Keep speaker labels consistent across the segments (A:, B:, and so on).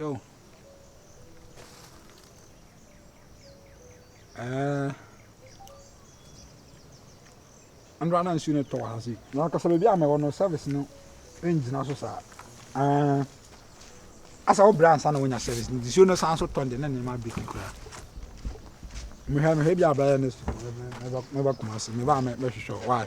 A: Yo eh Ɛnora na nsuo no tɔ wɔ ha sei. Na ankasa baabi a mɛwɔ no service no ngyina so saa. Ɛɛ asa wo brɛ ansa na wonya service no. Nsuo no san so tɔ de ne nneɛma bi fi koraa. Mehwɛ mehwɛ bi a bɛyɛ next week mɛba Kumasi. Meba a mɛhwehwɛ why.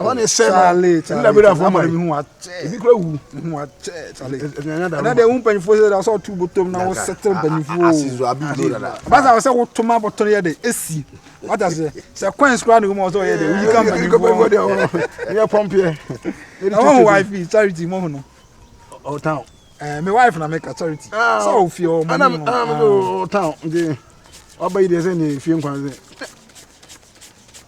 A: ɔba ne sɛ no na bɛda fo ma ebi kura wu ɛna deɛ wo mpanyinfoɔ sɛ sɛ ɔto bɔtɔm na wo sɛtɛ mpanyinfoɔ ɔba sɛ sɛ woto ma bɔtɔ no yɛ de ɛsi wata sɛ sɛ coins kura ne wo ma ɔsɛ ɔyɛ de woyi ka mpanyinfoɔ yɛ pɔmpeɛ ɛwɔ ho wife charity mɔho no ɔtan ɛɛ me wife na meka charity sɛ ɔfie ɔmo no ɔtan nti ɔba yi deɛ sɛ ne fie nkwan sɛ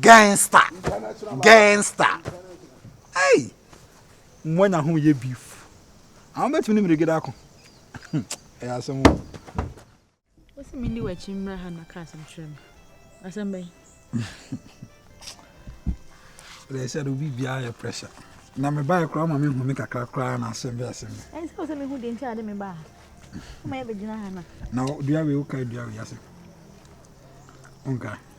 A: Gangster. Gangster. Hey! Mmoa nya ho yɛ beef. Àwọn bɛtumi ne mmerɛgede ako. Ɛyɛ asɛm o. Wosi
B: mi ni w'akyi mmra ha na ka asɛm kyerɛ me. Asɛm bɛn?
A: Ɛdɛ sɛ do bi biara yɛ pressure. Na me bae koraa ma me hu me kakra koraa na asɛm bɛ asɛm. Ɛn sɛ sɛ me hu de nti
B: ade me baa. Kuma yɛ bɛgyina ha na. Na dua wei
A: woka dua wei asɛm. Onka.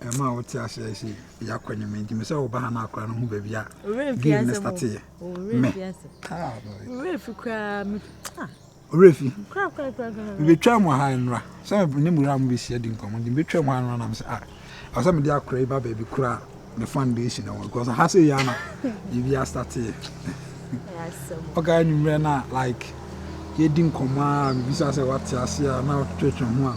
A: Ɛma a wote ase ayɛ sɛ yɛ akɔnye me nti me sɛ wo ba ha no akora no ho baabi a game no starte yɛ me ɔwerɛ fi koraa me ɔwerɛ fi mebɛtwa mu ha nnora sɛ ne mura mu bɛhyia di nkɔmmɔ nti mebɛtwa mu ha nnora nam sɛ ah ɛwɔ sɛ mede akora yi ba baabi koraa me fan base na wɔn because ha sɛ yɛ ama biribi astate yɛ ɔka anwummerɛ no a like yɛdi nkɔmmɔ a mebisa sɛ wate ase a na wotwetwe ho a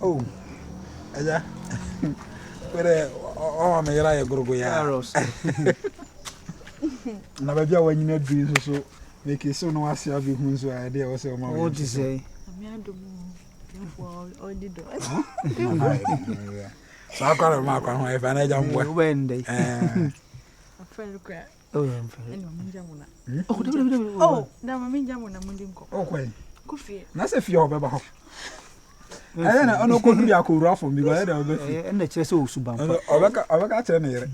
A: Oh, ɛyɛ. Wɛrɛ ɔma me yɛrɛ ayɛ gorogo ya. Na baabi a wanyina du nso so meke so no ase abi hu nso a ɛde ɛwɔ sɛ ɔma wo te sɛ. Saa akwa na ɔma akwa ho ɛfɛ na ɛgya mboa. Wobɛn dɛ.
B: Afɛn kra.
A: nasɛ
B: fie a ɔbɛba hɔ
A: ɛyɛ na ɔno kɔdu de akɔwura fam bi ɛyɛ na ɔbɛ fi ɛna kyerɛ sɛ ɔsu ba mpa
C: ɔbɛka ɔbɛka kyerɛ
A: ne yere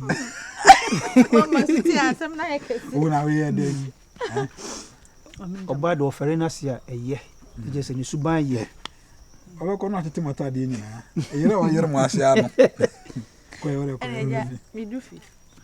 B: wo na woyɛ dɛ yi
C: ɔbaa de ɔfɛre no ase a ɛyɛ ɛgyɛ sɛ ne suban yɛ ɔbɛkɔ no
A: atete matadeɛ nyinaa ɛyere ɔyere mo ase ano kɔyɛ wode kɔyɛ wode fi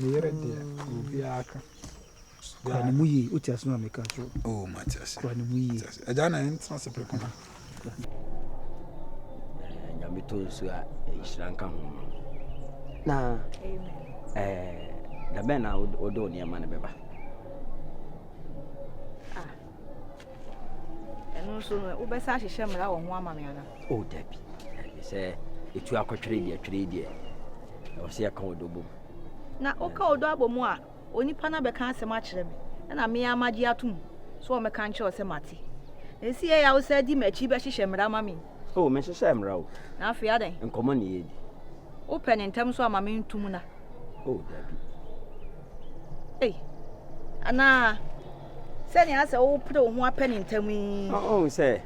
A: Me yere deɛ obiara ka. Kura ne
C: mu yie wote ase na meka kyerɛ wo. Oh mate ase. Kura
A: ne mu yie.
C: Agya na ɛntena
A: se preko na.
D: Nyame tɔ nsuo a nhyira nka ho. Na
C: ɛɛ
D: dabɛn na wode wo nneɛma no bɛba.
B: ɛno nso no wobɛsa ahyehyɛ mmara wɔ ho ama me ana o oh, dabi dabi
D: sɛ ɛtu akɔtwere deɛ twere deɛ ɛwɔ sɛ yɛka ɔdɔ bɔ mu na woka
B: ɔdɔ abɔ mu a onipa no abɛka asɛm akyerɛ me ɛna me a magye atom sɛ wɔmɛka nkyerɛ sɛ mate na ɛsi yɛ yɛawo sɛ di m'akyi bɛhyehyɛ mmara ma me o oh, menhyehyɛ mmara
D: o na afei adɛn nkɔmmɔ
B: ne yɛdi
D: wopɛ ne
B: ntɛm so ama mentom na o oh, dabi ei anaa Sɛnea asɛ wo pere wo ho apɛ ne ntam yi. Ɔhu sɛ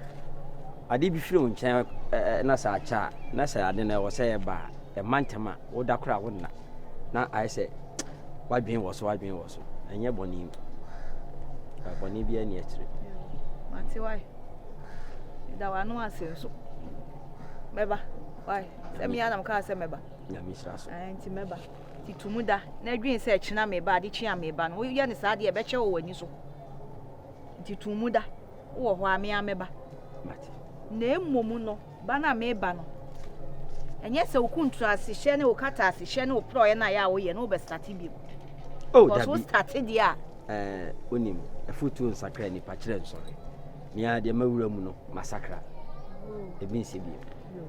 D: ade bi firi wo nkyɛn na sɛ akyɛ a, na sɛ ade no ɛwɔ sɛ ɛba a, ɛma ntɛm a, woda koro a wo nna. Na ayɛ sɛ wadwene wɔ so, wadwene wɔ so. Ɛnyɛ bɔne mu. Bɔne bi ani akyire. Mate
B: wae. Da w'ano ase nso. Mɛba. Wae. Sɛ mea na mkaa sɛ mɛba. Nyame hyira so.
D: Nti mɛba. Ti
B: to mu da na dwen sɛ kyena mereba, adekyea mereba no. Woyɛ no saa deɛ, ɛbɛkyɛ wɔ w'ani so. Nti to mu da, wowɔ hɔ a, me ara mɛba.
D: Na mmom
B: no, ba no a mereba no, ɛnyɛ sɛ wo kuntrasehyɛ ne wo kataasehyɛ ne wo porɔeɛ no a ɛyɛ a woyɛ no wobɛstate bio. Oh, Because wo
D: state deɛ
B: a. Eh, wonim,
D: afutuo nsakra nipa kyerɛ nsɔre. Mea deɛ mawura mu no, masakra. Ebi nsɛ bio.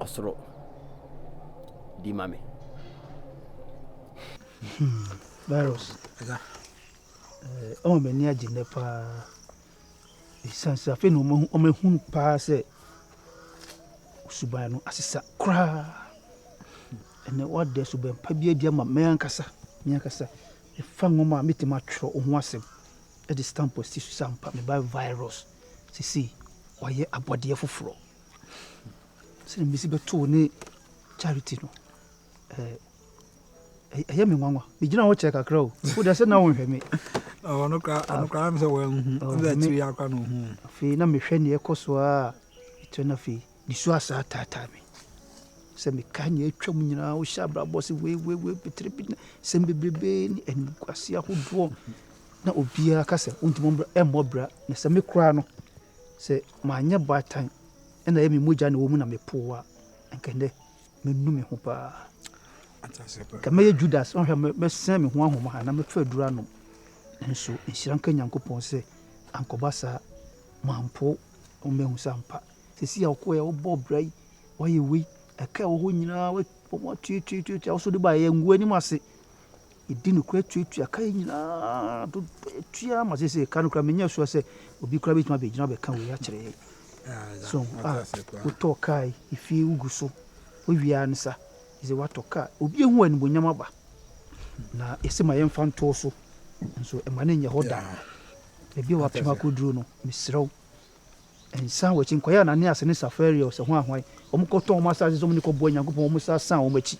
D: ɔsoro di ma me.
C: Hmm, virus ɛga ɔma eh, m'ani agye nnɛ paa ɛsiane sɛ afei na ɔmahu paa sɛ suban no asesa koraa ɛnɛ woada suban pa bi adi ama me ankasa me ankasa ɛfa nwoma a mɛtumi atwerɛ wo ho asɛm ɛde stamp asi so sɛ ampa meba virus sesei wayɛ abɔdeɛ foforɔ sɛdeɛ mesi bɛtoo ne charity no ɛɛ ɛyɛ me nwanwa megyina hɔ kyɛ kakra o wode sɛ na wonhwɛ me ɔno
A: koraa me sɛ wanhu sɛ akyiri yɛ akora na ɔhu afei na mehwɛ neɛ
C: ɛkɔ so a ɛtɔ no afei nisu asaa taataa me sɛ meka neɛ atwam nyinaa wohyɛ abrabɔ se weiweiwei betere bi na sɛm bebrebe ne animguase ahodoɔ na obiara ka sɛ wontumi mmɔ bra na sɛ me koraa no sɛ Manyɛ baatan na ɛyɛ me mogya na ɛwɔ mu na mepoo wo a, anka ɛnnɛ manu me ho paa. Anka mɛyɛ Judas, ɔhwɛ mɛsɛn me ho ahoma ha na mɛfa aduru anom. Nanso nhyira nka Nyankopɔn sɛ ankɔba saa, mampo wo mahu sɛ ampa. Sɛsi a wokɔɛ a wobɔ bra yi, woayɛ wei, ɛka ɛwɔ hɔ nyinaa wɔatuatuatuatua wo so de baeɛ, nguo anim ase. Yɛdi nokorɛ tuatua ka yɛ nyinaa dodoɔ yɛtua ma sɛ sɛ ka no kora menyɛ soa sɛ obi kora bɛtumi abɛgyina bɛka wei akyerɛ yɛ so a wotɔɔ kaa yi ɛfie wogu so wowiaa no sa sɛ woatɔ kaa obi ɛhu animonyam aba na ɛsɛ ma yɛmfa ntoo so nso ɛma no nyɛ hɔ daa baabi a wapem akɔduru no mesrɛ wo Nsa wɔn akyi, nkɔyɛ Ananias ne Safaria ɔsɛhoahwae, wɔkɔtɔn wɔn asase so wɔn de kɔboa Nyankopɔn, wɔsan san wɔn akyi.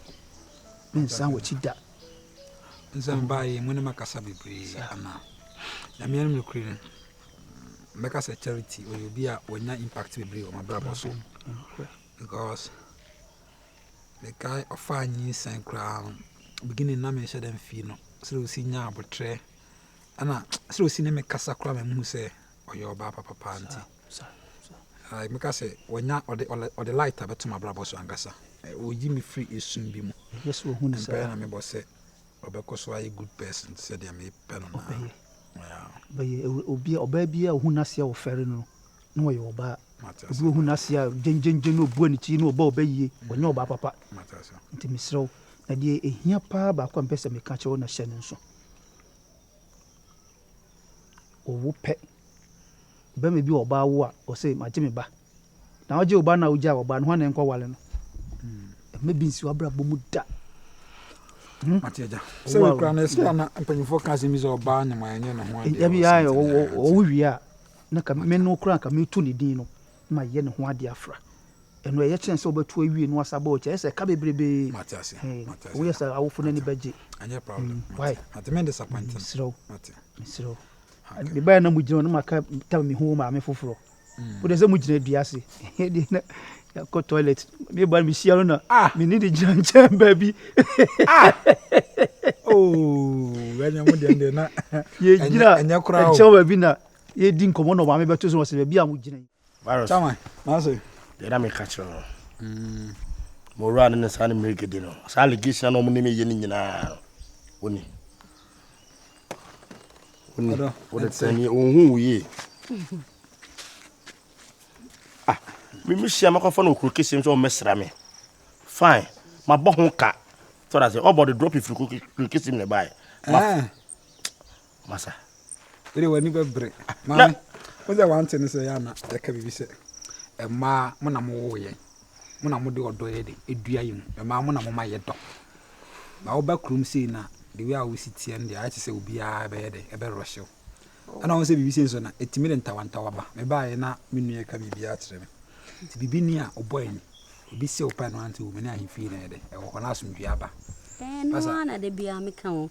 C: Mensan wɔn akyi da. Nsa
A: baa yɛn mu ne makasa bebree anaa? Na meanom nokorɛ no, mɛka sɛ Charity ɔyɛ obi a wɔnya impact bebree wɔ mabrabɔ so because mekae ɔfaa nyinsɛn koraa no beginning na menhyɛ da mfii no sɛ ɔsi nya abotrɛ ɛna sɛ ɔsi ne mekasa koraa ma mehu sɛ ɔyɛ ɔbaa papa paa nti meka sɛ wanya ɔde light a bɛtom abrabɔ so ankasa ɔyi me firi ɛsum bi mu mpɛɛ na mebɔ sɛ ɔbɛkɔ so ayɛ good person sɛdeɛ mepɛ no naa
C: ɔbaa biaa ɔhu no aseɛ wɔfɛre no na ɔyɛ ɔbaa obi ɔhu no aseɛ a gyengyengyɛ na ɔbua ne ti na ɔba ɔbɛ yie ɔnyɛ ɔbaa papa nti meserɛ wo na deɛ ɛhia paa baako a mpɛ sɛ meka kyerɛ wo na hyɛ no nso owu pɛ. Barima bi wɔ ɔbaa wo a, ɔsɛ magye me ba. Na wogye wo ba no a wogyaa wo ba no, hwan na ɛnkɔ wale no? Ɛmɛ bi nsi w'abrabɔ mu da. Hmm?
A: Mate agya. Sɛ wekura no, ɛsɛ ana mpanyimfoɔ ka asɛm bi sɛ ɔbaa nyama ɛnyɛ ne ho adeɛ. Ɛbi ayɛ
C: ɔwo wie a, na ka me no kura ka metu ne din no. ma yɛyɛ ne ho ade afra. Ɛno ɛyɛ kyɛn sɛ wobɛto awie na wasa bɔ kyɛ. Ɛyɛ sɛ ɛka bebrebe.
A: Woyɛ sɛ awofo
C: no ani bɛgye. Mesrɛ
A: wo. Mesrɛ
C: wo. Mebaeɛ na mogyina hɔ na maka tam mehu wo maame foforɔ. Mm. Wode sɛ mogyina dua ase. Ɛdeɛ na yɛakɔ toilet. Meba no mehyia no na ah. mene de gyina nkyɛn baabi.
A: Ah. Oh, yɛgyina
C: nkyɛn baabi na Yɛredi nkɔmmɔ na ɔmaame bɛto so wɔ sɛ baabi a mogyina yi. Virus. Chairman,
E: mase.
A: Deɛ na meka kyerɛ
E: no. Mm. Mowura no ne saa ne mmerɛgɛdi no. Saa allegation na wɔn ne me yɛ no nyinaa no. Woni. Woni. Wode tɛni ohun wo yie. Ah, me me hyia makɔfa no okuro kese nso ɔmmɛsra me. Fine. Mabɔ ho ka. Tɔra sɛ ɔbɔ de drop firi kuro kese mu na ɛbaeɛ. Eh. Masa. Wode w'ani
A: bɛbere. Maame, wo sɛ wante ne sɛ yɛ ana yɛka biribi sɛ mmaa mo na mowoo yɛn, mo na mode ɔdɔ yɛ de edua yɛ mu, mmaa mo na moma yɛ dɔ. Ba woba kurom sei na the way a wosi teɛ no deɛ ayɛ te sɛ obiara ɛbɛyɛ dɛ ɛbɛrɔhyew. Ɛna wɔn sɛ biribi sei nso na ɛtumi de ntawantawa ba. Mebaeɛ na me nua ka biribiara kyerɛ me. Nti biribi ni a ɔbɔ ani, obi sɛ wo pɛ no ante wo, me ne ahemfie na ɛyɛ dɛ ɛwɔ hɔ na asomdwoeɛ aba. Ɛno ara na
F: da biara meka ho.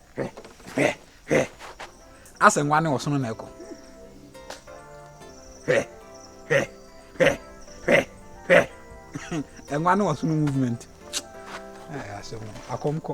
A: Hwɛ, hwɛ, hwɛ. Asɛ nwa ne ɔsono na ɛkɔ. Hwɛ, hwɛ, hwɛ, hwɛ, hwɛ. Nwa ne ɔsono movement. Asɛm akɔm kɔ.